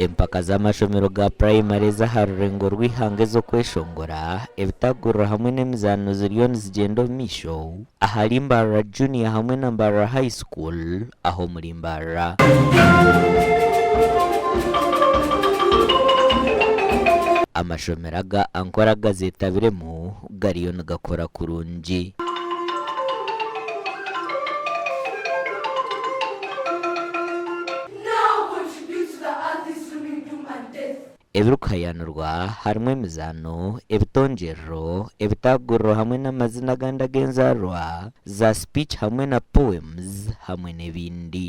Empaka z'amashomero ga purayimari ez'aha rurengo rw'eihanga ez'okweshongora, ebitaguriro hamwe n'emizaano ziriyo nizigyenda omu maisho ahari Mbarara Junior hamwe na Mbarara High School aha omuri Mbarara. Amashomero aga Ankora gazetabiremu gariyo nigakora kurungi. Ebirikuhayaanirwa harimu emizaano, ebitongyerero, ebitaaguriro hamwe n'amazina agandi ag'enzaarwa za speech hamwe na poems hamwe n'ebindi.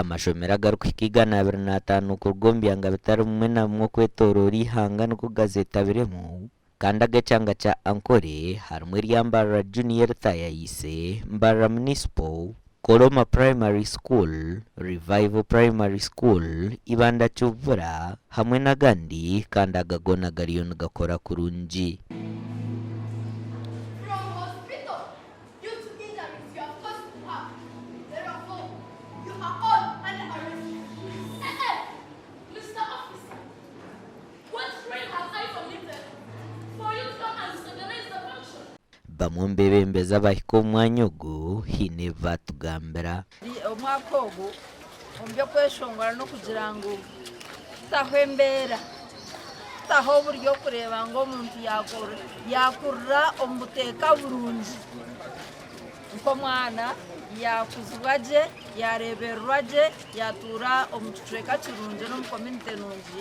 Amashomero agarikuhika igana abiri n'ataano kuruga omu byanga bitari bimwe na bimwe okwetooroora eihanga nigo gazeetabiremu. Kandi aga ekyanga kya Ankole harimu erya Mbarara Junior Ritha ya Ise, Mbarara Municipal, Koloma Primary School, Revival Primary School, Ibanda Kivura hamwe n'agandi kandi aga goona gariyo nigakora kurungi. Bamwe omu beebembezi abahika omu mwanya ogu haine ebi baatugambira. Omwaka ogu omu by'okweshongora n'okugira ngu kutaho embeera, kutaho oburyo kureeba ngu omuntu yaakurira omu buteeka burungi nk'omwana, yaakuzibwa gye, yaareebererwa gye, yaatuura omu kicweka kirungi n'omu komuunite nungi.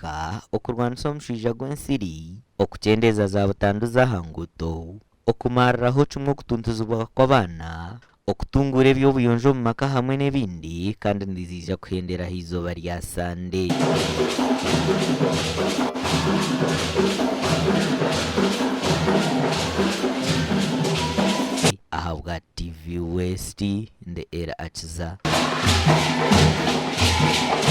kuhika okurwanisa omushaija gw'ensiri, okukyendeeza za butandu z'aha nguuto, okumariraho kimwe okutuntuzibwa kw'abaana, okutunguura eby'obuyonjo omu maka hamwe n'ebindi kandi niziija kuhendera aha izooba rya Sande. Ahabwa TV West, ndi Eri Akiza.